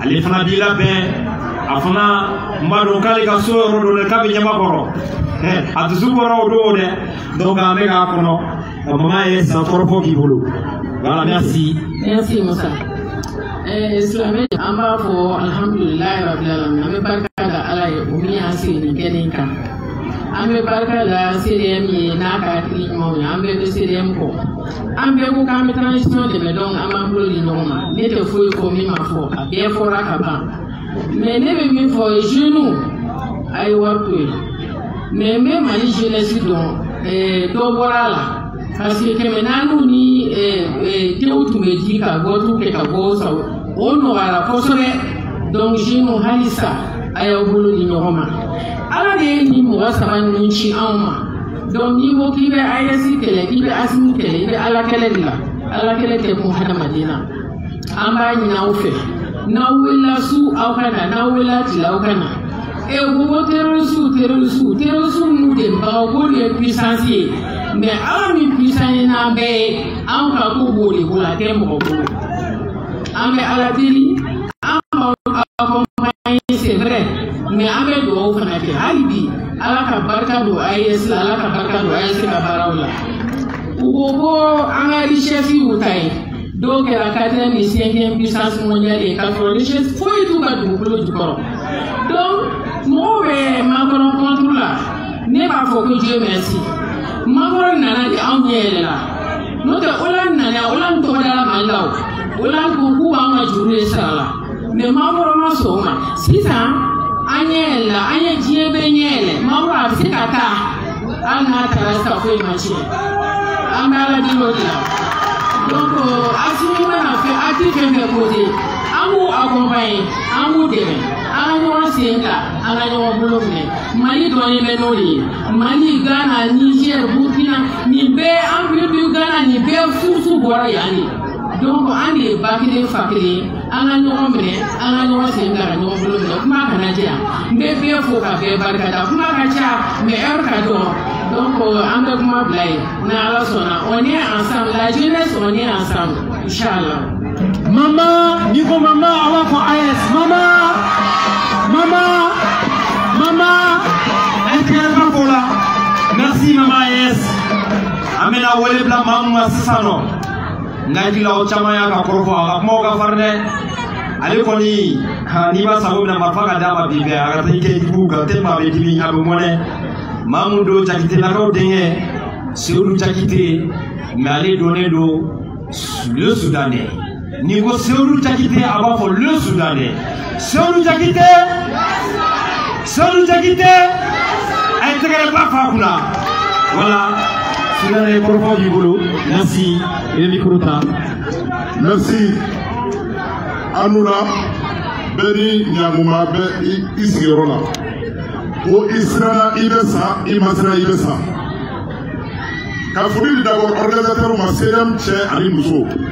ale fana b'i labɛn a fana n b'a dɔn k'ale ka so yɔrɔ dɔ la k'a bɛ Ɲamakɔrɔ a dusu bɔra o don dɛ donc an bɛ k'a kɔnɔ ka mama AES a kɔrɔfɔ k'i bolo voilà merci. merci musa ɛɛ silamɛ an b'a fɔ alihamudulilayi rabil alamin an bɛ barika da ala ye o min y'an sigi nin kɛnɛ in kan an bɛ barika da CDM ye n'a ka hakili ɲumanw ye an bɛɛ bɛ CDM kɔ. an bɛɛ ko k'an bɛ transition dɛmɛ donc an b'an bolo di ɲɔgɔn ma ne tɛ foyi fɔ min ma fɔ a bɛɛ fɔra ka ban mais ne bɛ min fɔ jeunes a ye wari to yen mais n bɛ mali jeunesse dɔn ɛɛ dɔ bɔra a la parce que kɛmɛ naaniw ni ɛɛ ɛɛ tew tun bɛ di ka vote kɛ ka bɔ sa o nɔgɔyara kosɛbɛ donc jeunes halisa a y'aw bolo di ɲɔgɔn ma ala de ye nin mɔgɔ saba ninnu ci anw ma. donc n'i ko k'i bɛ AES kɛlɛ k'i bɛ ASIMI kɛlɛ i bɛ Ala kɛlɛ de la Ala kɛlɛ tɛ kun hadamaden na an b'a ɲini aw fɛ n'aw wulila su aw ka na n'aw wulila tile aw ka na e ko ko terorisiw terorisiw terorisiw n'u dɛmɛbagaw k'olu ye puissance ye mais Ala min puissance ye n'an bɛɛ ye anw ka ko b'o de bolo a tɛ mɔgɔ bolo an bɛ Ala deli an b'aw accompagner c'est vrai mais an bɛ dugawu fana kɛ hali bi. ala ka barika don AES la ala ka barika don AES ka baaraw la u ko ko an ka richesse y'u ta ye dɔw kɛra quatrième ni cinquième puissance mondiale ye k'a sɔrɔ richesse foyi t'u ka dugukolo jukɔrɔ donc mɔgɔw bɛ Macron contre la ne b'a fɔ ko dieu merci Macron nana de anw ɲɛ yɛlɛ la n'o tɛ Hollande nana Hollande tɔgɔ dara maaw la o Hollande ko k'u b'an ka juru de sara la mais Macron ma sɔn o ma sisan an ɲɛ yɛlɛla an ye diɲɛ bɛɛ ɲɛ yɛlɛ Macron a bɛ se ka taa hali n'a taara sisan foyi ma tiɲɛ an bɛ ala deli o de la donc asimi mana fɛn akili fɛn fɛn ko de an b'u accompagner an b'u dɛmɛ an ka ɲɔgɔn sen ta an ka ɲɔgɔn bolo minɛ mali dɔnnen bɛ n'o de ye mali ghana niger burkina nin bɛɛ empire du ghana nin bɛɛ buruju bɔra yan de donc an de ye ba kelen fa kelen an ka ɲɔgɔn minɛ an ka ɲɔgɔn sen ta ka ɲɔgɔn bolo minɛ kuma kana janya n bɛ bɛɛ fo ka bɛɛ barika da kuma ka ca mais heure ka dɔgɔ donc an bɛ kuma bila yen ni ala sɔnna on est ensemble la jeunesse on est ensemble inchallah mama n'i ko mama a b'a fɔ AES mama mama mama ɛkɛyɛrɛba ko la merci mama AES an bɛna wele bila maa min ma sisan nɔ n ka hakilila o caman y'a ka kɔrɔfɔ a ka kumaw ka farin dɛ ale kɔni n'i b'a sago la marifa ka d'a ma bi bɛɛ a ka taa i kɛ jugu kan tɛ maa bɛ dimi a bɛ mɔnɛ maa min don jakitelakaw denkɛ seyidu jakite mɛ ale dɔnnen don le sudanɛ n'i ko seyidu jakite a b'a fɔ le sudanɛ Seydou Diakité Seydou Diakité ay tɛgɛrɛba f'a kunna voilà Soudanais kɔrɔfɔ b'i bolo merci i bɛ micro ta merci a ni wula bɛɛ n'i jamu duman bɛ i sigiyɔrɔ la ko i siranna i bɛ sa i ma siran i bɛ sa ka foli di d'abord organisateurs ma CDM cɛ ani muso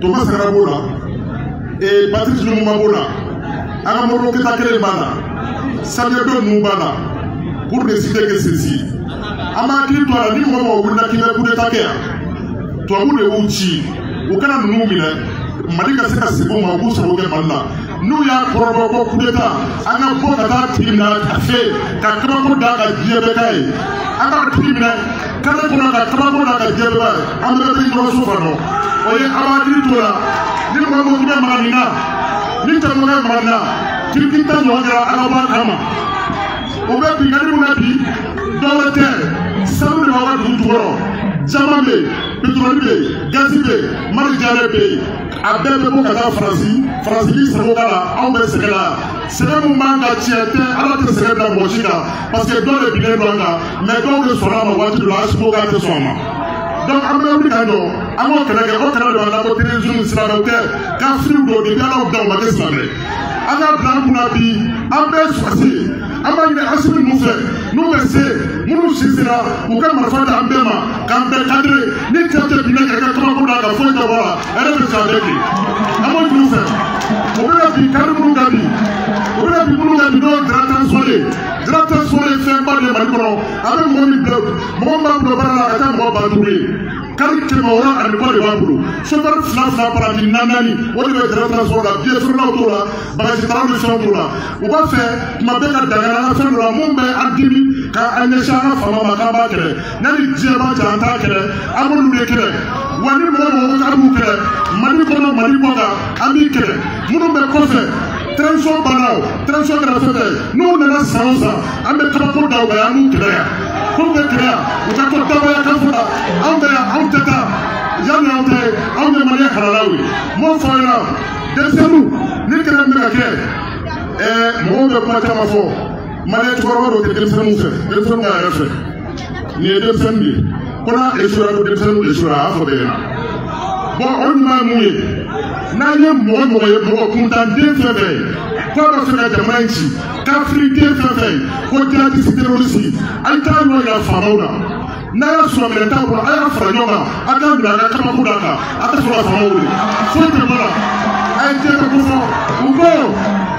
Thomas Sankara b'o la ee Patrice Lumumba b'o la an ka Modibo Keyita kelen b'a la Sadio ninnu b'a la pour ne citer que ceci an b'a hakili to a la ni mɔgɔ mɔgɔ wulila k'i bɛ coup d'état kɛ yan tubabu de y'u ci u kana ninnu minɛ Mali ka se ka segin u ma u k'u sago kɛ Mali la. n'u y'a kɔrɔbɔ ko kudeta an ka bɔ ka t'a tigi minɛ a fɛ ka kabako d'a kan diɲɛ bɛɛ k'a ye an k'a tigi minɛ kare kɔnɔ ka kabako d'a kan diɲɛ bɛɛ an bɛɛ bɛ ɲɔgɔn so kɔnɔ o ye a b'a hakili to a la ni mɔgɔ min bɛ maga nin na ni cɛmɔgɔ bɛ maga nin na kirikiri ta ɲɔgɔn kɛra ala b'a kama u bɛ binkanni min na bi dɔwɛrɛ tɛ sanu de b'aw ka dugu jukɔrɔ caman bɛ yen petroli bɛ yen gazi bɛ yen mari jare bɛ yen a bɛɛ bɛ bɔ ka taa faransi faransi b'i sago k'a la anw bɛ sɛgɛn la sɛgɛn min b'an kan tiɲɛ tɛ ala tɛ sɛgɛn bila mɔgɔ si kan parce que dɔw de binnen don an kan mɛ dɔw de sɔnna a ma waati dɔ la asimi k'a tɛ sɔn a ma donc an bɛ wuli ka jɔ an k'o kɛlɛ kɛ o kɛlɛ de b'a la ko terorisimu silamɛw tɛ kafiriw don depuis ala y'u da u ma kɛ silamɛ an k'a bila an kunna bi an bɛɛ sɔrɔdasi an b'a ɲini asimi ninnu fɛ n'u bɛ se minnu si sera u ka marifa di an bɛɛ ma k'an bɛɛ kadire ni cɛ tɛ binna ka kɛ kabako la ka foyi tɛ bɔ la ɛrɛ bɛ sa bɛɛ bi an b'o ɲini u fɛ u bɛna bin kari minnu kan bi u bɛna bin minnu kan bi n'o ye Diarra Transport ye Diarra Transport ye fɛnba de ye mali kɔnɔ a bɛ mɔgɔ min bila mɔgɔ min b'a bolo baara la a ka ca mɔgɔ ba duuru ye kari kɛmɛ wɔɔrɔ ani kɔ de b'a bolo sofɛri fila fila paranti naani naani o de bɛ Diarra Transport la biye feerelaw t'o la bagazi talaw ni fɛnw t'o la u b'a fɛ tuma bɛɛ ka dankari an ka fɛn dɔ la min bɛ an dimi ka an ɲɛsin an ka faama ma k'an b'a kɛlɛ n'a ni diɲɛ b'a cɛ an t'a kɛlɛ an b'olu de kɛlɛ wa ni mɔgɔ mɔgɔ ko k'an b'u kɛlɛ mali kɔnɔ mali kɔ kan an b'i kɛlɛ minnu bɛ kɔfɛ transition banna o transition kɛra fɛn fɛn n'u nana san o san an bɛ kabako da u kan an b'u kɛlɛ yan k'u bɛ kɛlɛ yan u ka to dabɔya kan fɔ la anw bɛ yan anw tɛ taa yanni anw tɛ anw ye maliyɛn halalaw ye m'o fɔ aw ɲɛna denmisɛnninw ni kɛlɛ min bɛ ka kɛ ɛɛ mɔgɔw bɛ kuma caman fɔ maliyɛn cɛkɔrɔba dɔw tɛ denmisɛnninw fɛ denmisɛnninw ka hɛrɛ fɛ nin ye denmisɛnnin de ye ko n'a esuwera ko denmisɛnninw esuwera a y'a fɔ bɛɛ ɲɛna bɔn o ɲuman ye mun ye n'a ye mɔgɔ mɔgɔ ye mɔgɔ kuntanden fɛn fɛn ye k'a b'a fɛ ka jamana in ci kafiriden fɛn fɛn ye ko jihadisi terorisi a ye t'a yɔrɔ yira faamaw la n'a y'a sɔrɔ minɛn t'a bolo a ye fara ɲɔgɔn kan a k'a minɛ a ka kabakurun d'a kan a ka sɔrɔ ka faamaw wele foyi tɛ bɔ a la a ye diɲɛ bɛɛ ko fɔ u ko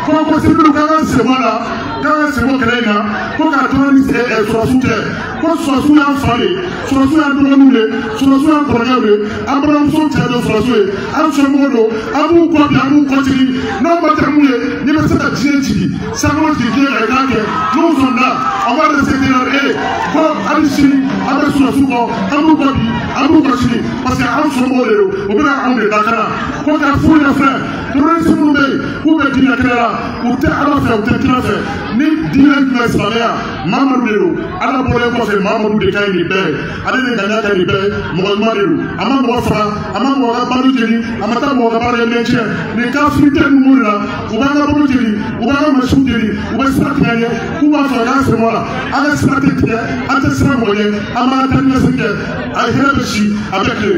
ko ko sibiliw k'an k'an sen bɔ a la k'an k'an sen bɔ kɛlɛ in na ko k'a to an ni sɔrɔsiw cɛ ko sɔrɔsiw y'an fa de sɔrɔsiw y'an dɔgɔninw de sɔrɔsiw y'an kɔrɔkɛw de an balimamuso cɛ don sɔrɔsiw ye an somɔgɔw don an b'u kɔ bi an b'u kɔ sini n'aw ma tɛmɛ mun ye n'i bɛ se ka diɲɛ jigin Sankolo jigin diɲɛ kan k'a kɛ n'u sɔnna an b'a respecter na ee ko hali sini an bɛ sɔrɔsiw kɔ an b'u kɔ bi an b'u kɔ sini parce que an somɔgɔw de don u bɛna anw de lakana ko k'a f'u ɲɛna fɛn terroriste minnu bɛ yen k'u bɛ diinɛ kɛlɛ la u tɛ ala fɛ u tɛ kira fɛ ni diinɛ jumɛn silamɛya mamadu de don ala bɔlen kɔfɛ mamadu de ka ɲi ni bɛɛ ye ale de ŋaniya ka ɲi ni bɛɛ mɔgɔ ɲuman de don a ma mɔgɔ faga a ma mɔgɔ ka balo jeni a ma taa mɔgɔ ka baarakɛminɛn tiɲɛ nin kafiriden ninnu de la u b'an ka balo jeni u b'an ka mansinw jeni u bɛ sira tigɛ an ɲɛ k'u b'a fɔ k'an sen bɔ a la an ka sira tɛ tigɛ an tɛ siran mɔgɔ ɲɛ an b'an ka taa ni ka segin kɛ a hɛrɛ bɛ si a bɛ tile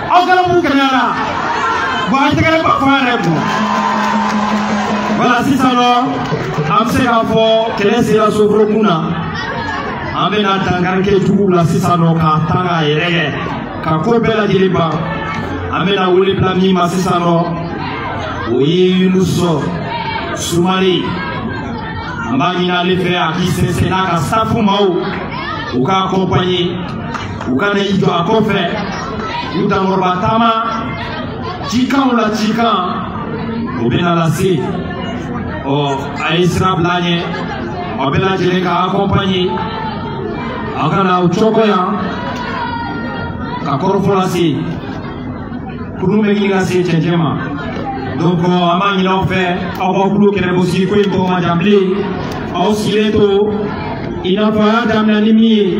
aw kɛra mun kɛnɛyara bɔn an tɛgɛrɛba fɔ a ye bɔn wala sisan nɔ an bɛ se k'a fɔ kɛlɛ sera soforokun na an bɛna dankari kɛ juguw la sisan nɔ k'a ta k'a yɛrɛ kɛ ka ko bɛɛ lajɛlen ban an bɛna wele bila min ma sisan nɔ o ye yunusa sumare an b'a ɲini ale fɛ a k'i sɛnsɛn n'a ka staff maaw u k'a akɔnpanye u ka na i jɔ a kɔfɛ u dankɔrɔba taama cikanw la cikan o bɛna lase ɔ a ye sira bila a ɲɛ aw bɛɛ lajɛlen k'a akɔnpanye aw ka na aw jɔ a kɔ yan ka kɔrɔfɔ lase kurun bɛ ɲini ka se cɛncɛn ma donc an b'a ɲini aw fɛ aw ka kulo kɛnɛ bɔ sigi ko in tɔ man jan bilen aw sigilen to i n'a fɔ a y'a daminɛ ni min ye